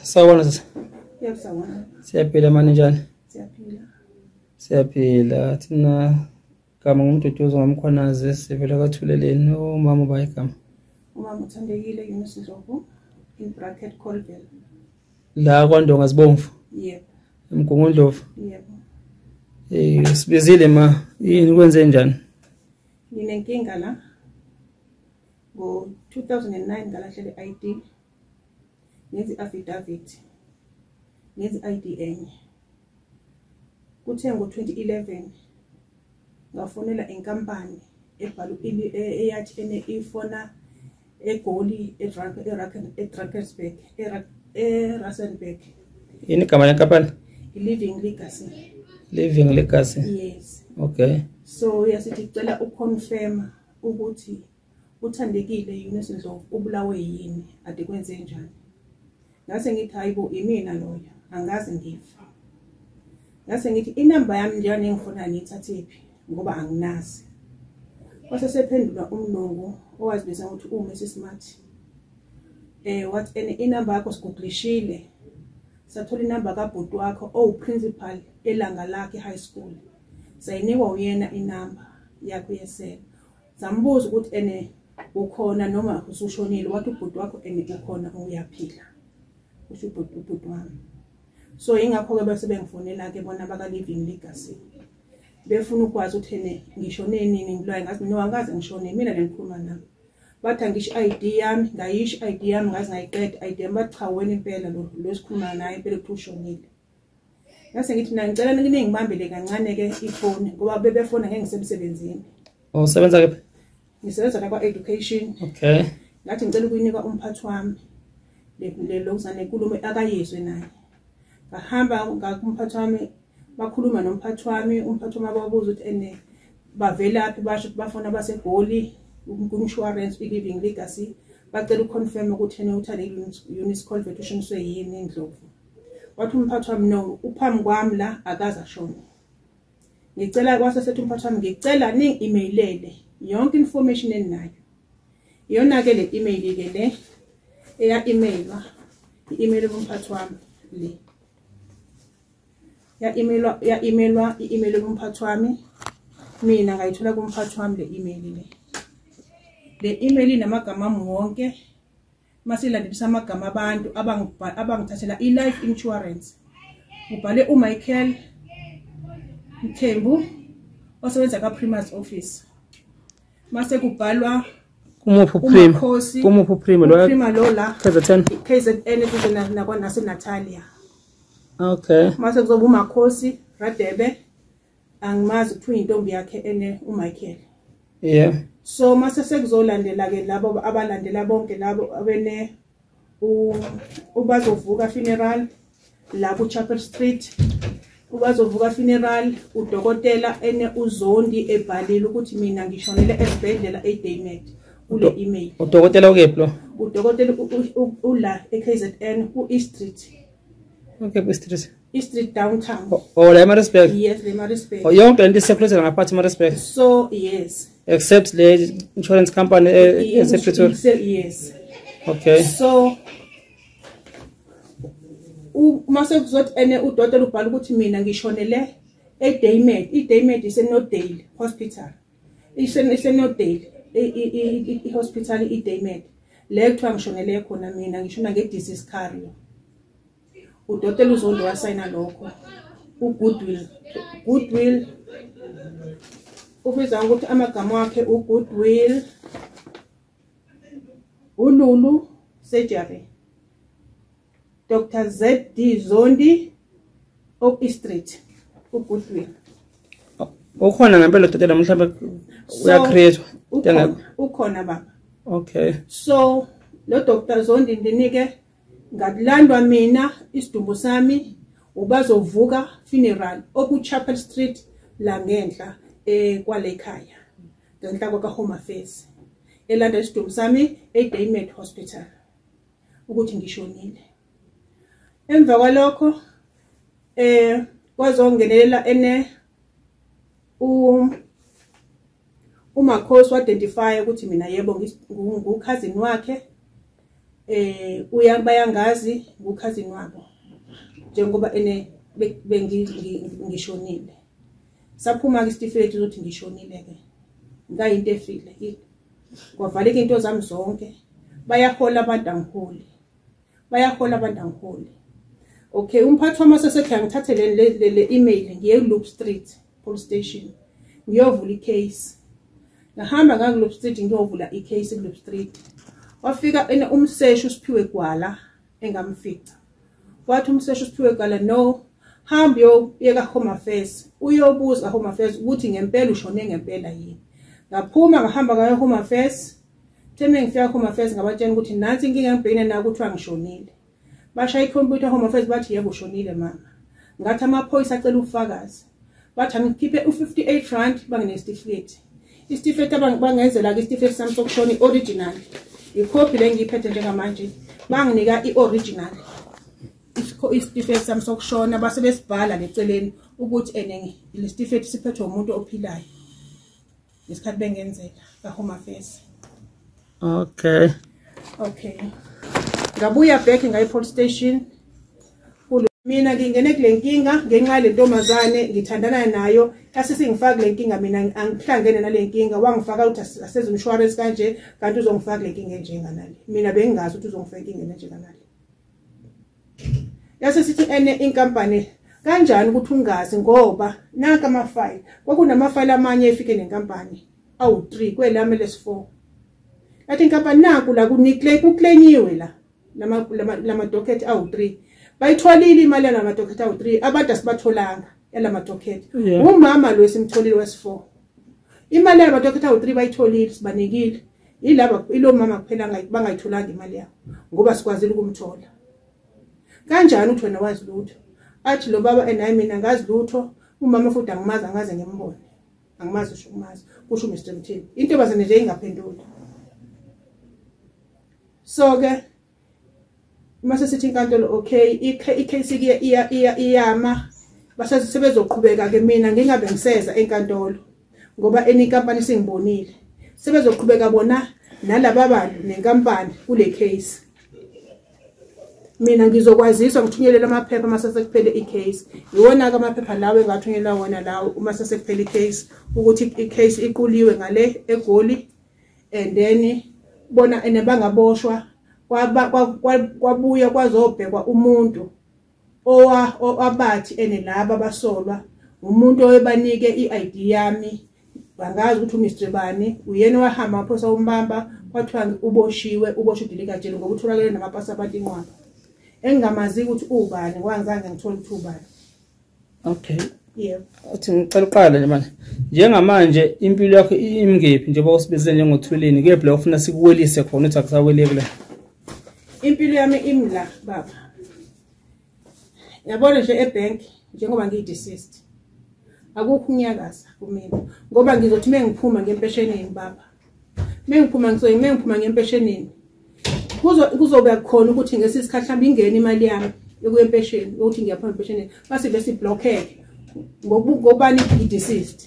sawubona sisi Yebo sawona. siyaphila mani njani Siyaphila. siyaphila thina gama ngumduduzo ngomkhwanazi sivela kwathuleleni umama uba igama Umama uthandekile Yunus Ndlovu in bracket Colville. la kwandonga zibomvu Yebo. emgungundlovu Yebo. Eh, sibizile ma yini kwenze njani Nginenkinga la. Ngo-2009 ngalahlele i-ID ngenza i-affidavit ngenza i-ID enye kuthe ngo-2011 ngafonela inkampani ebhala eyathi ene ifona egoli edrakersburg erasenburg yini igama lenkampani i-living legacy living legacy yes okay so yasithi cela uconfirma ukuthi uthandekile Eunice Ndlovu ubulawe yini ade kwenze njani ngase ngithi hayibo imina loyo angazi ngifa ngase ngithi inamba yami njani engifuna ngiyithathephi ngoba anginazi kwase sephendula umlungu owazibiza ukuthi uMrs Smart eh what and inamba yakho sigugulishile sathola inamba kabhuti wakho owuprincipal elanga lakhe high school sayinikwa uyena inamba yakho yesela sambuza ukuthi ene ukhona noma usushonile wathi ubhuti wakho ene ukhona uyaphila usho ubhuti ubhuti wami so ingakho-ke bese bengifonela-ke bona baka-living legacy befuna ukwazi ukuthi ene ngishone nini ngilwaye ngazi mina wangaze ngishone mina nengikhuluma nami bathi angisho i-id yami ngayisho i-id yami ngaze ngayiqeda i-id yami bathi cha wena impela lo losikhuluma naye impela ukuthi ushonile ngase ngithi mina ngicela ningibambele kancane ke ifoni ngoba bebefona ngeke ngisemsebenzini oh sebenza ke ngisebenza la kwa education okay ngathi ngicela ukuyinika umphathi wami le lokuzane nkulumo akayizwe naye ngahamba ngakumphathi wami bakhuluma nomphathi wami umphathi wami ababuza ukuthi ene bavelaphi basho ukuthi bafuna abasegoli ku-insurance i-living legacy bacela uconfirm ukuthi ene uthale unis colvet ushiniswe yini indlovu wathi umphathi wami no uphambi kwami la akaza shona ngicela kwase sethi umphathi wami ngicela ni emailele yonke information eninayo iyona ke le email ke le eya emailwa i-email yomphathi wami le ya emailwa ya emailwa i-email yomphathi wami mina ngayithola kumphathi wami le email le le email inamagama wonke masilandisa amagama abantu abangithathela i-life insurance ngibhale umichael mthembu osebenza ka-primas office mase kubhalwa kumuphi uprimakumuphi uprima lola kzn kzn kuze nasenatalia okay mase kuzoba umakhosi radebe angimazi kuthiwa intombi yakhe ene uMichael yeah so mase sekuzolandela ke labo abalandela bonke labo abene ubazovuka funeral la ku Chapel Street ubazovuka funeral udokotela ene uzondi ebhalile ukuthi mina ngishonele esibhedlela eDaynet kule email udokotela ukephi lo udokotela ula eKZN ku East Street okay ku East Street Street downtown. Oh, oh la Maritzburg. Yes, le Maritzburg. Oh, yonke lento isekhulethela ngaphathi Maritzburg. So, yes. Except le insurance company eh, esePretoria. Yes. Okay. So uma sekuzothi ene udokotela ubhala ukuthi mina ngishonele eDaymed, iDaymed iseNodale Hospital. Isenodale i-hospital iDaymed. Le kuthiwa ngishonele khona mina ngishona nge-disease carrier. udokotela uzondo wasayina lokho ugoodwill goodwill ubiza ukuthi amagama wakhe ugoodwill ululu surgery dr zd zondi oak street ugoodwill ukhona ngempela udokotela mhlawumbe uyacreatwa ukhona baba okay so lo dr zondi ndinike ngakulandwa mina isidumbu sami ubazovuka funeral okuchapel street la ngenhla eh kwale khaya ngenhla kwa home affairs elanda isidumbu sami eDaymed hospital ukuthi ngishonile emva kwalokho eh kwazongenelela ene u umakhosi wadentify ukuthi mina yebo ngukhazini wakhe eh uya bayangazi ngukhazini wabo njengoba ene bengishonile saphuma ke isitifiketi ukuthi ngishonile ke ngayinto efile kwavaleka into zami zonke bayahola abantu angiholi bayahola abantu angiholi okay umphathi wamasese ekhaya ngithathe le le email ngiye loop street police station ngiyovula icase ngahamba ngakuloop street ngiyovula icase kuloop street wafika ene umseshi usiphiwe gwala engamfica wathi umseshi usiphiwe gwala no hamba uyobuyeka home affairs uyobuza home affairs ukuthi ngempela ushone ngempela yini ngaphuma ngahamba ngayo home affairs Theme ngifika home affairs ngabatshena ukuthi nansi inkinga ngibhekene nayo kuthiwa ngishonile. Bashaya ikhompyutha home affairs bathi yebo ushonile mama. Ngathi amaphoyisa acela ubufakazi. Bathi angikhiphe u58 rand banginesitifiketi. Isitifiketi abangenzela ke isitifiketi sami sokushona ioriginal. Ikhophi lengiyiphethe njengamanje banginika ioriginal. Isitifiketi sami sokushona base besibhala leceleni ukuthi ene lesitifiketi siphethwe umuntu ophilayo. isikhathi bengenzela ka home affairs okay okay ngabuya back ngaye police station mina ngingene kule nkinga ngenxa yale ntombazane ngithandana nayo asisingifaki le nkinga mina angihlangene nale nkinga wangifaka ukuthi aseze umshwarensi kanje kanti uzongifaka le nkinga enjenganale mina bengingazi ukuthi uzongifaka inkinga enjenganale yase sithi ene inkampani kanjani ukuthi ungazi ngoba naka amafayile kwakunamafayile amanye efike nenkampani awu-3 kwelami lesi-4 yathi inkampani naku la kuclaimiwe la lamadocket awu-3 bayitholile imali yalamadocket awu-3 abantu asibatholanga yalamadocket umama lo esimtholile wesi-4 imali yalamadocket awu-3 bayitholile sibanikile ilaba ilo mama kuphela bangayitholanga imali yabo ngoba sikwazile ukumthola kanjani uthi wena wazi lutho athi lo baba enaye mina ngazi lutho umama futhi angimazi angaze ngimbone angimazi usho umazi kusho uMr Mthini into bazane nje ingaphenduli so ke uma sesithi inkantolo okay i-case ke iyama basebezoqhubeka ke mina ngingabe ngiseza enkantolo ngoba enye inkampani singibonile sebezoqhubeka bona nalaba bantu nenkampani kule case mina ngizokwaziswa ngithunyelele amaphepha uma sesekuphele i-case yiwona-ke amaphepha lawo engathunyelwa wona lawo uma sesekuphele i-case ukuthi i-case iquliwe ngale egoli and then bona and bangaboshwa kwaba kwabuya kwazobhekwa umuntu owa owabathi ene laba basolwa umuntu oyebanike iID yami bangazi ukuthi uMr bani uyena wahamba aphosa umbamba kwathiwa uboshiwe uboshwe dilika jele ngoba utholakele namapasapati inqwaba engingamazi ukuthi ubani kwangizange ngithole ukuthi ubani okay yebo uthi ngicela uqale nje manje njengamanje impilo yakho imngephi njengoba usibizile njengothulini kephi la ufuna sikuwelise khona uthi akusaweleki la impilo yami imla baba yabona nje ebank njengoba ngiyideceased akukho unyakaza kumina ngoba ngizothi mengiphuma ngempesheni yini baba mengiphuma ngisoyi mengiphuma ngempeshenini kuzobe khona ukuthi ngesi sikhathi hlambe ingene imali yami ekuyempesheni ukuthi ngiyaphuma empeshenini base bese blockeke ngokubani i-deceased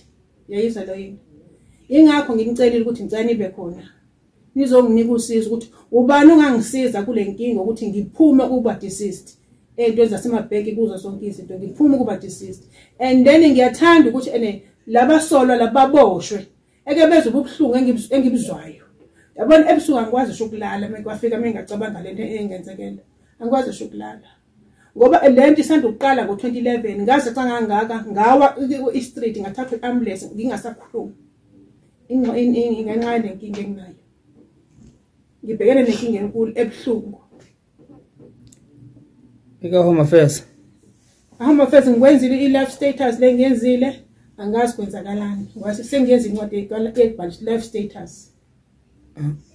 yayizwa lo yini ingakho nginicelile ukuthi ngicela nibe khona nizonginika usizo ukuthi ubani ongangisiza kule nkinga ukuthi ngiphume kuba deceased ey'ntweni zasemabheki kuzo sonke izinto ngiphume kuba deceased and then ngiyathanda ukuthi ene labasolwa lababoshwe eke bezwe ubuhlungu engibuzwayo yabona ebusuku angikwazi sho ukulala mekwafika mengacabanga lento engenzekela angikwazi sho ukulala ngoba lento isanda ukuqala ngo-2011 ngaze cangangaka ngawa i-street ngathathwa i-ambulance ngingasakhulumi ngenxa yenenkinga enginayo ngibhekene nenkinga enkulu ebuhlungu ika home affairs home affairs ngikwenzile i-life status le ngiyenzile angazi kwenzakalani ngoba sengiyenza incwadi ebhalisa i-life status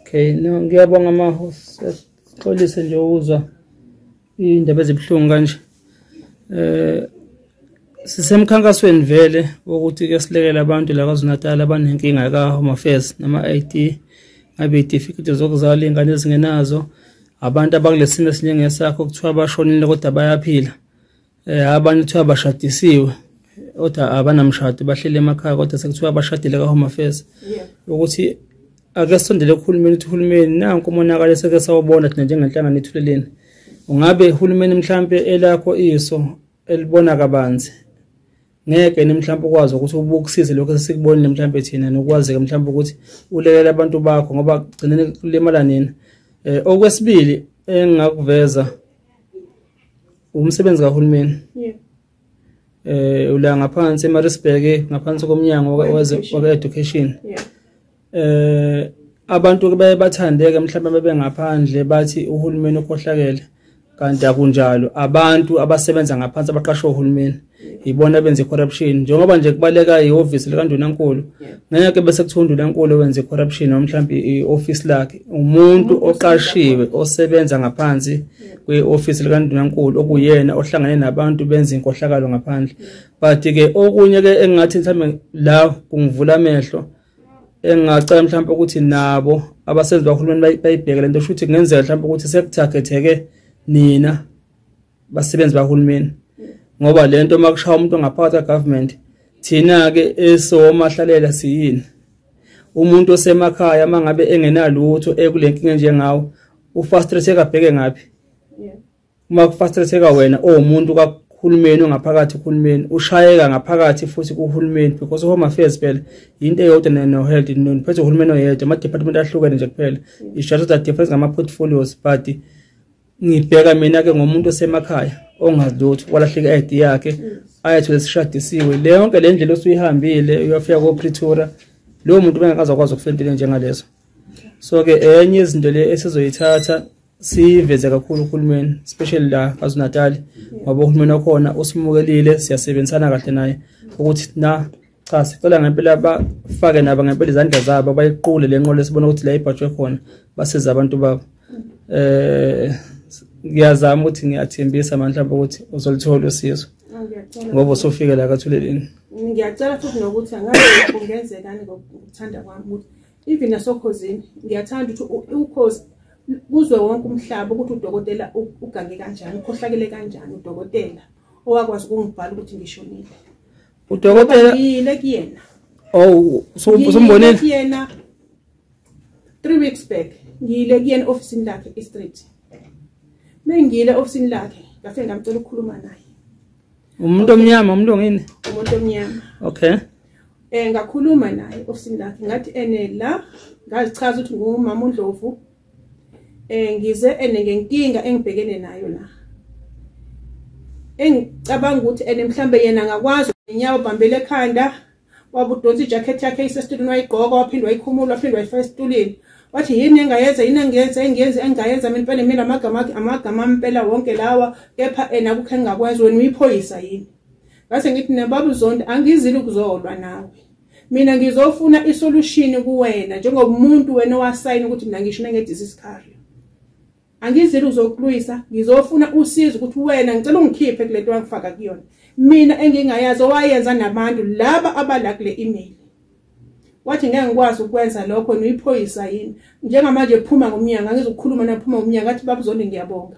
okay no ngiyabonga mahosi sixolise nje ukuzwa iy'ndaba ezibuhlungu kanje eh sisemkhankasweni vele wokuthi ke silekele abantu la KwaZulu-Natal abanenkinga ka-home affairs nama-ID ngabe itifiketi zokuzala iy'ngane ezingenazo abantu abakulesimo esinjengesakho kuthiwa bashonile kodwa bayaphila um abanye kuthiwa bashadisiwe kodwa abanamshado bahleli emakhaya kodwa sekuthiwa bashadile ka-home affairs ukuthi ake sondele kuhulumeni ukuthi uhulumeni nanku umonakalo eseke sawubona thina njengenhlangano ethuleleni ungabe uhulumeni mhlampe elakho iso elibona kabanzi ngeke nimhlawumbe ukwazi ukuthi ubukusize lokho esikubonile mhlawumbe thina nokwazeke mhlawumbe ukuthi ulelela abantu bakho ngoba gcineni kulimala nina eh okwesibili engakuveza umsebenzi kahulumeni eh ula ngaphansi eMaritzburg ngaphansi komnyango waka-education eh abantu ke baye bathandeke mhlawumbe bebengaphandle bathi uhulumeni ukhohlakele kanti akunjalo abantu abasebenza ngaphansi abaqashwe uhulumeni yibona benza i-corruption njengoba nje kubaleka ihhovisi likandunankulu ngeke bese kuthiwa undunankulu wenza i-corruption noma mhlawumbe i-ofisi lakhe umuntu oqashiwe osebenza ngaphansi kwi-ofisi likandunankulu okuyena ohlangane nabantu benza inkohlakalo ngaphandle but-ke okunye-ke engingathi mhlawumbe la kungivula amehlo engingacela mhlawumbe ukuthi nabo abasenzi bahulumeni bayibheke le nto kusho ukuthi kungenzeka mhlawumbe ukuthi sekuthakhetheke nina basebenzi bahulumeni ngoba le nto uma kushaya umuntu ongaphakathi kagovernment thina-ke esomahlalela siyini umuntu osemakhaya mangabe engenalutho ekulenkinga enjengawo ufrustrated abheke ngaphi uma kufrustrated wena owumuntu kakhulumeni ongaphakathi uhulumeni ushayeka ngaphakathi futhi kuhulumeni because home affairs phela into eyodwa no health no phethe uhulumeni oyedwa ama department ahlukene nje kuphela it's just that difference ngama portfolios but ngibheka mina ke ngomuntu osemakhaya ongazi lutho walahleka i-id yakhe ayethole sishadisiwe le yonke le ndlela osuyihambile uyafika kopretoria lowo muntu bengakaze akwazi ukufika entweni njengalezo so-ke enye izinto le esizoyithatha siveze kakhulu uhulumeni especially la kwazunatali ngoba uhulumeni okhona usimukelile siyasebenzisana kahle naye ukuthi na cha sicela ngempela bafake nabo ngempela izandla zabo bayiqule le nqola esibona ukuthi la ibhajwe khona basiza abantu babo eh ngiyazama ukuthi ngiyathembisa mandla ukuthi uzolithola usizo ngoba usufike la kathuleleni ngiyacela futhi nokuthi angabe kungenzekani ngokuthanda kwami ukuthi even nasokhozini ngiyathanda ukuthi ukhozi kuzwe wonke umhlaba ukuthi udokotela ugange kanjani ukhohlakele kanjani udokotela owakwazi ukungibhala ukuthi ngishonile udokotela yile kuyena oh sombonile kuyena 3 weeks back ngiyile kuyena office lakhe e street mengile office lakhe ngase ngamcela ukukhuluma naye umuntu omnyama umuntu ongini umuntu omnyama okay eh ngakhuluma naye office lakhe ngathi ene la ngazichaza ukuthi ngumama uNdlovu eh ngize ene ngenkinga engibhekene nayo la engicabanga ukuthi ene mhlambe yena ngakwazi inyawo bambele ekhanda wabudonsa ijacket yakhe isestulini wayigqoka waphinde wayikhumula waphinde wayifaka esitulini wathi yini engayenza yini engiyenza engiyenza engayenza mina impela mina amagama amagama impela wonke lawa kepha ena kukhe ngingakwenza wena uyiphoyisa yini ngase ngithi nebaba uzonda angizile ukuzolwa nawe mina ngizofuna isolution kuwena njengoba umuntu wena owasayina ukuthi mina ngisho nengedisease career angizile uzokulwisa ngizofuna usizo ukuthi wena ngicela ungikhiphe kulento wangifaka kuyona mina engingayazi owayenza nabantu laba abala kule email wathi ngeke ngikwazi ukwenza lokho niyiphoyisa yini njengamanje phuma ngomnyango angizokukhuluma naphuma ngomnyango athi babuzoni ngiyabonga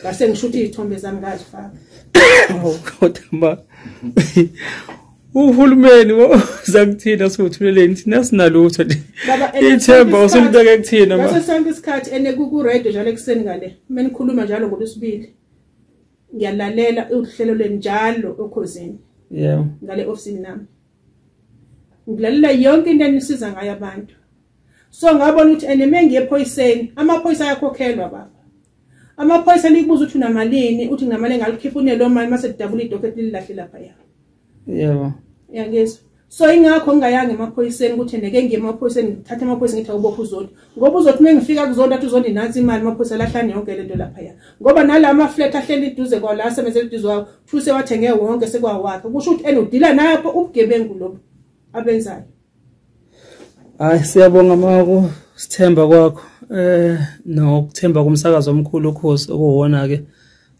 ngase ngisho ukuthi izithombe zami ngazifaka oh, kodwa ma uhulumeni woza kuthina siwuthuleleni thina sinalutho nje ithemba usulibeke kuthina ma ngaso sonke isikhathi ene ku radio njalo ekuseni ngale mina ngikhuluma njalo ngolwesibili ngiyalalela uhlelo lweni njalo okhozini yeah ngale office nami ngilalela yonke into enisiza ngayo abantu so ngabona ukuthi and mengiye ephoyiseni amaphoyisa ayakhokhelwa baba amaphoyisa likubuza ukuthi unamalini uthi nginamali engalikhipha unelo mali mase didabula idocket lilahle lapha ya yebo yangizwa so ingakho ngingayanga emaphoyiseni ukuthi neke ngiye emaphoyiseni ngithathe amaphoyisa ngithi awubopha uzondi ngoba uzothi uma ngifika kuzondi athi uzondi nansi imali amaphoyisa lahlani yonke le nto laphaya ngoba nala amaflat ahleli iduze kwawo la asebenzela iduze wawo kuthiwa sewathenge wonke sekwawakhe kusho ukuthi and udila napho ubugebengu lobu abenzayo Hayi siyabonga maku sithemba kwakho eh nokuthemba kumsakazo omkhulu ukhosi okuwona ke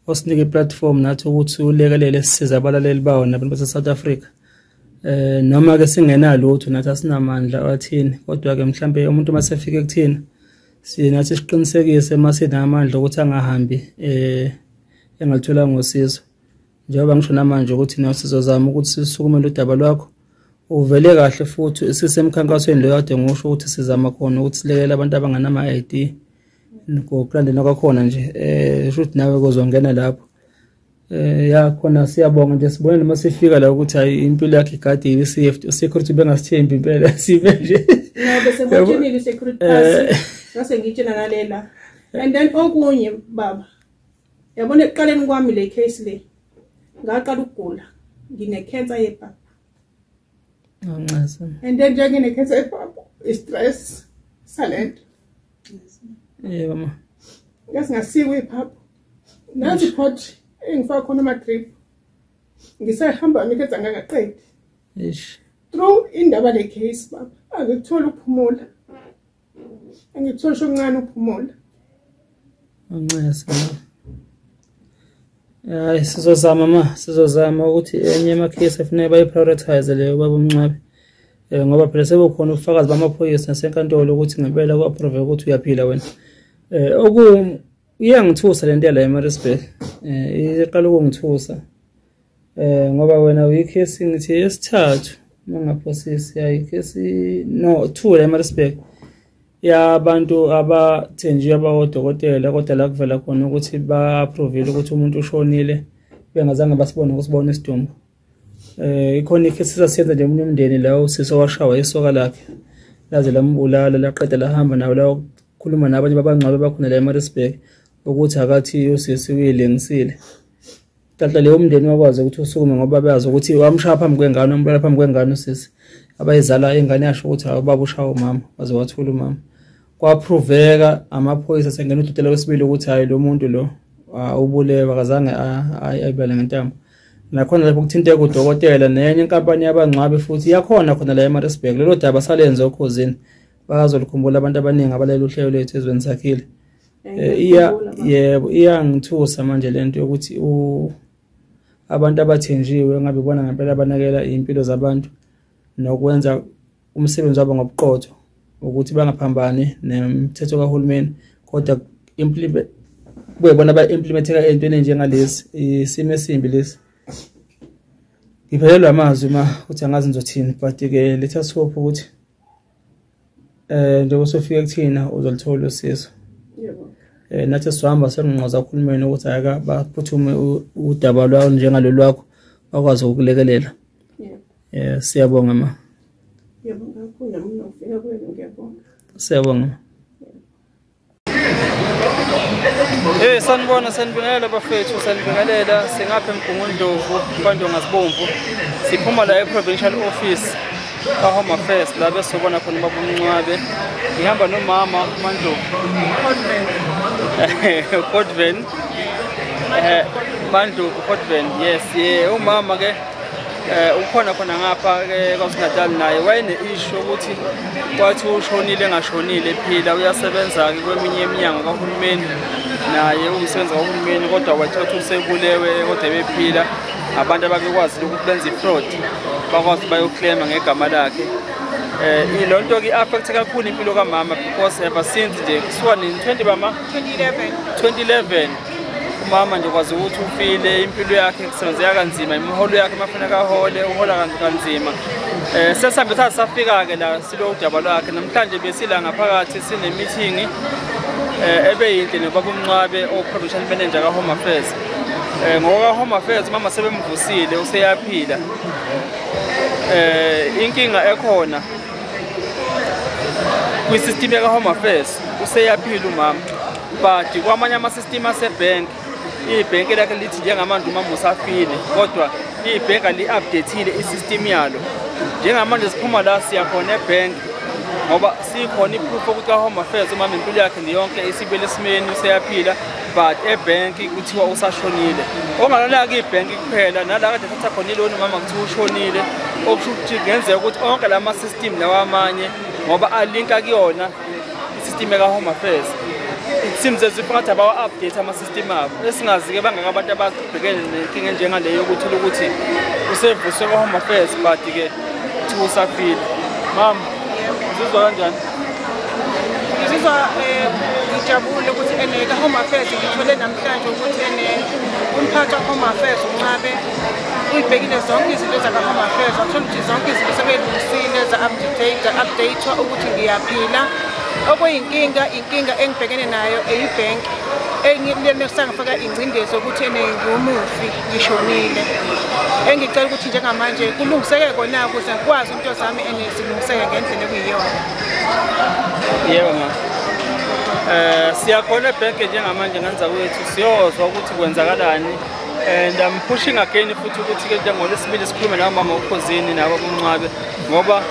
osinike platform nathi ukuthi ulekelele sisize abalaleli bawo nabantu base South Africa eh noma ke singenalutho nathi asinamandla athini kodwa ke mhlambe umuntu masefike kuthina sina siqinisekise masinamandla ukuthi angahambi eh engalithola ngosizo njengoba ngisho namanje ukuthi nawe sizozama ukuthi sisukumele udaba lwakho uvele kahle futhi sisemkhankasweni lo kade ngisho ukuthi sizama khona ukuthi silekele abantu abanganama-id ngokulandela kwakhona nje um sho ukuthi nawe kozongena lapho um ya khona siyabonga nje sibone noma sifika la ukuthi hayi impilo yakhe igadiwe security bengasithembi impela sibe nje eh. and then okunye baba yabona ekuqaleni kwami le case le ngaqala ukugula ngine-cancer yebhaba ngoncaso and then njengoba ngine-cancer yebhaba i-stress sale nto yebo ma ngasingasikwe iphaphu nansi pot engifaka khona ama-drip ngisahamba miketha ngangaqedi through indaba le-case baba angikutholi ukuphumula Ngithosha uncane uphumula. Unxese. Hayi sizozama ma sizozama ukuthi enye ama case efuneka bayi prioritize leyo baba umncwabe. Eh ngoba phela sekukhona ubufakazi bamaphoyisa nasenkantolo ukuthi ngempela ku approve ukuthi uyaphila wena. Eh oku iyangithusa lento yala eMaritzburg. Eh iqala ukungithusa. Eh ngoba wena uyikhesi ngithi yesithathu mangaphosisi ayikhesi no two la eMaritzburg yabantu abathenjiwe abawodokotela kodwa la kuvela khona ukuthi ba-approvile ukuthi umuntu ushonile bengazange basibone ukusibona isidumbu eh ikhona ikhesi sasiyenza nje umuntu umndeni la usisi owashawa isoka lakhe laze lambulala laqeda lahamba nawo la khuluma nabanye babangcwabe bakhona la eMaritzburg ukuthi akathi usisi uyilengisile Tata leyo umndeni wakwazi ukuthi usukume ngoba beyazi ukuthi wamshaya phambi kwengane wambulala phambi kwengane usisi abayizala ingane yasho ukuthi hayi ubaba ushaya umama waze wathula umama kwaphroveka amaphoyisa sengena ududela wesibili ukuthi hayi lo muntu lo ubulewe akazange ayibale ngentambo nakhona lapho kuthinteka udokotela nenye inkampani yabangcwabi futhi yakhona khona la emarisburg lelo daba salenze okhozini bazolikhumbula abantu abaningi abalela uhlelo lwethu ezweni sakhile Eh, iya yebo iyangithusa manje lento yokuthi u abantu abathenjiwe ngabe bona ngempela abanakela impilo zabantu nokwenza umsebenzi wabo ngobuqotho ukuthi bangaphambani nemthetho kahulumeni kodwa implement kube bona ba implementeka entweni njengalesi isimo esimbi lesi ngiphelelwa amazwi ma uthi angazi ngizothini but ke let us hope ukuthi eh njengoba sofika kuthina uzolithola usizo yebo eh nathi sihamba senqoza uhulumeni ukuthi ayaka baphuthume u- udaba lwawo njengalolu lwakho bakwazi ukulekelela yebo eh siyabonga ma yebo ngakho nami nofika kwenu ngiyabonga siyabonga ma. Hey eh, sanibona sanibingelela bafethu sanibingelela singapha emgungundlovu kwandonga sibomvu siphuma la e-provincial office ka-home affairs la besobona khona ubaba umncwabe ngihamba nomama umandlovu codven um eh, mandlovu codven yes ye umama ke eh ukhona khona ngapha ke eh, kwaSinatal naye wayene issue ukuthi kwathi ushonile engashonile ephila uyasebenza ke kweminye eminyango kahulumeni naye umsebenzi kahulumeni kodwa wathatha usebulewe kodwa bephila abantu abakwazi ukuthi benze ifraud bakwazi bayoclaima ngegama lakhe eh ilo nto ke affect kakhulu impilo kamama because ever since nje kusuka ni 20 bama 2011 2011 umama nje kwazi ukuthi ufile impilo yakhe kusebenzeka kanzima imiholo yakhe mafuneka ahole uhola kanzima um sesihambe thatha safika-ke la silo udaba lwakhe namhlanje besila ngaphakathi sinemithingi um eh, ebe yinhle nobaba umncwabe o-production manager ka-home affairs um ngokwaka-home affairs umama sebemvusile useyaphila um inkinga ekhona kwi-system yaka-home affairs useyaphila umama but kwamanye amasystem asebhenki ibhenki lakhe lithi njengamanje umama usafile kodwa ibhenki ali-updatile isystem yalo njengamanje siphuma la siyakhona ebhenki ngoba sikhona iproof okuthi ka-home affairs umama impilo yakhe niyonke isibele esimeni useyaphila but ebhenki kuthiwa usashonile ongalona-ke ibhenki kuphela nala kade thatha khona iloni umama kuthiwa ushonile okusho ukuthi kungenzeka ukuthi onke la ma-system lawa amanye ngoba alinka kuyona isistime ka-home affairs it seems as if ngathi abawa-update ama-system abo esingazi-ke bangaka abantu ababhekene nenkinga enjengaleyo yokuthi ukuthi usevuswe kwa-home affairs but-ke kuthiwa usafile mama uzizwa kanjani ngizizwa um eh, ngijabule ukuthi ene ka-home affairs ngithole namhlanje ukuthi ene umphathi wa-home affairs uncabe uyibhekile zonke izinto zakahome affairs wathola ukuthi zonke izinto sebelungisile za-update updatwa ukuthi ngiyaphila okuyinkinga inkinga engibhekene nayo eyibhenki engilenesangifaka ingcindezi yokuthi ene ngiwumufi ngishonile engicela ukuthi njengamanje kulungiseke kona ukuze ngikwazi into zami ene zilungiseke ngendlela ekuyiyona yebo ma um siyakhona ebhenke njengamanje ngenza kwethu siyozwa ukuthi kwenzakalani and I'm pushing again futhi ukuthi ke into ngolesibili sikhulume nawo mama ukhozini nabo kumncwabe ngoba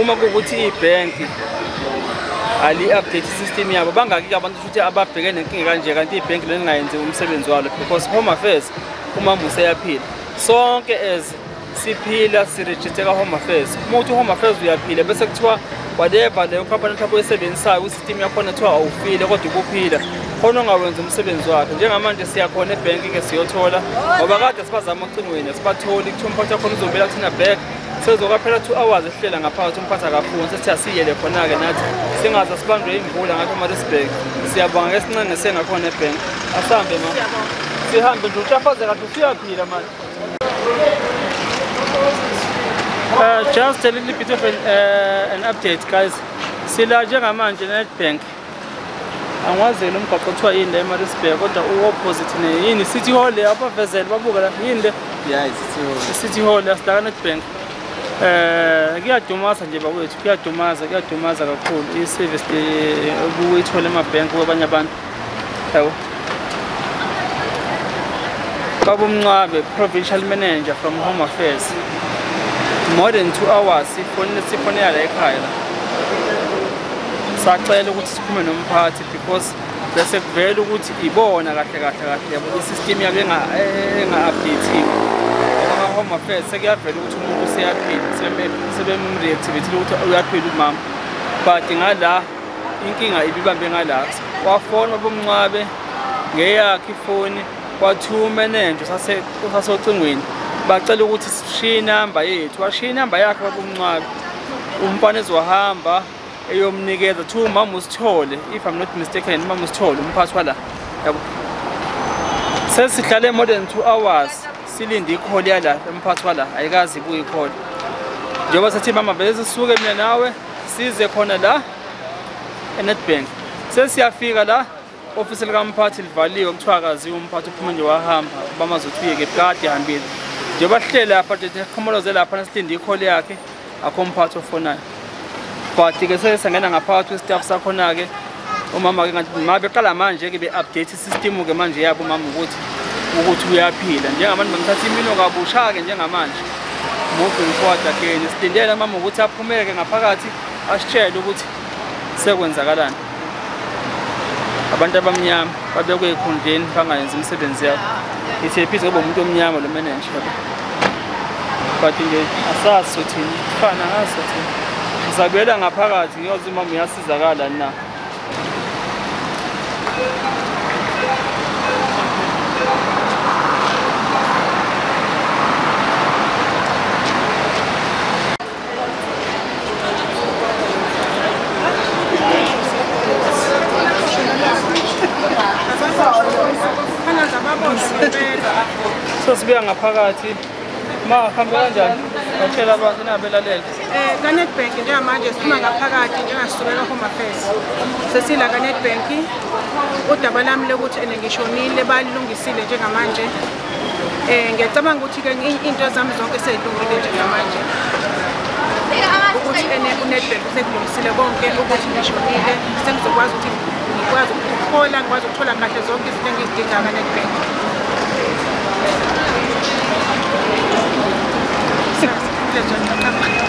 uma kukuthi ibank ali update system yabo bangaki abantu futhi ababheke nenkinga kanje kanti ibank leningayenzi umsebenzi walo because home affairs uma museyaphila sonke as siphila sirejisteka home affairs uma uthi uhome affairs uyaphila bese kuthiwa whatever leyo company mhlawumbe oyisebenzisayo kwi-system yakhona kuthiwa awufile kodwa ukuphila khona ongawenza umsebenzi wakhe njengamanje siyakhona ebhenki-ke siyothola ngoba kade sibazama ocingweni asibatholi kuthiwa umphathi wakhona uzobela kuthina back sezokaphela two hours ehlela ngaphakathi umphathi akafuni sethi asiyele khona-ke nathi singaze sibanjwe imvula ngakho marisburg siyabonga ke sincenge sengakhona ebhenki asihambe ma sihambe nje uhlafazeka nje usuyaphila manje Uh, just a little bit of an, uh, an update guys sila njengamanje nedbank angiwazeli umgaqo kuthiwa yini le emarisburg kodwa uopposite neyini city hall le abavezele babuka la yini le city hall yasidaka nedbank um kuyadumasa nje bakwethu kuyadumaza kuyadumaza kakhulu i-service obuyithole emabhenki kwabanye abantu yabo baba umncwabe provincial manager from home affairs more than two hours sifonela la ekhaya la sacela ukuthi siphume nomphathi because bese kuvela ukuthi ibona kahle kahle kahle yabo i-system yabo enga-updathiwe ama-home affairs sekuyavela ukuthi umuntu useyaphila sebemreactivathile ukuthi uyaphila umama but ngala inkinga ibibambe ngala wafona ubumnqwabe ngeyakhe ifoni kwathiwa umenenja sasocingweni bacela ukuthi sishiye inamba yethu washiya inamba yakhe babumnqwabe umfana ezohamba eyomnikeza thiwa umama usithole if i'm not mistaken umama usithole umphathi wala yabo sesihlale more than two hours silinde ikholi yala emphathi wala ayikazi ibuye ikholi njengoba sethi mama bese sisuke mina nawe size khona la eNetbank sesiyafika la ofisi likamphathi livaliwe kuthiwa akaziwa umphathi uphuma nje wahamba bamazi ukuthi uyeke kade hambile nje bahlele lapha nje siqhomoloze lapha nasilinde ikhole yakhe akho mphathi ofonayo but-ke sesangena ngaphakathi kwesitafu sakhona-ke umama-ke ngathi ma beqala manje-ke be-update System ke manje yabo mama ukuthi ukuthi uyaphila njengamanje bangithatha imino kabusha ke njengamanje moving forward again sidindele mama ukuthi aphumeke ngaphakathi asitshele ukuthi sekwenzakalani abantu abamnyama babekwe ekhundleni bangayenzi imisebenzi yabo ithi ephize kube umuntu omnyama lo manager yabo but nje asazi sothini ifana ngaso thina ngizabuyela ngaphakathi ngiyoze umama uyasizakala na sosibuya ngaphakathi ma hambe kanjani batshela abantu nabelalele Eh, kaNetbank njengamanje siphuma ngaphakathi njengasisuke ka-home affairs sesila kaNetbank udaba lami lokuthi ene ngishonile balilungisile njengamanje um ngiyacabanga ukuthi-ke iy'nto zami zonke seyilungile njengamanje ukuthi ene unetbank sekulungisile konke ukuthi ngishonile sengizokwazi ukuthi ngikwazi ukuthola ngikwazi ukuthola kahle zonke izinto engizidinga kaNetbank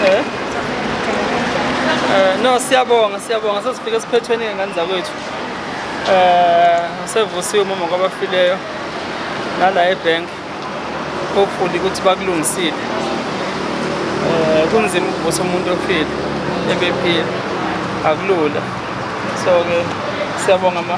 Eh? Eh, no siyabonga siyabonga sesifike esiphethweni ngengane zakwethu eh sevusiwe umama kwabafileyo nala ebank hopefully ukuthi bakulungisile eh kunzima ukuvusa umuntu ofile ebephila akulula so ke siyabonga ma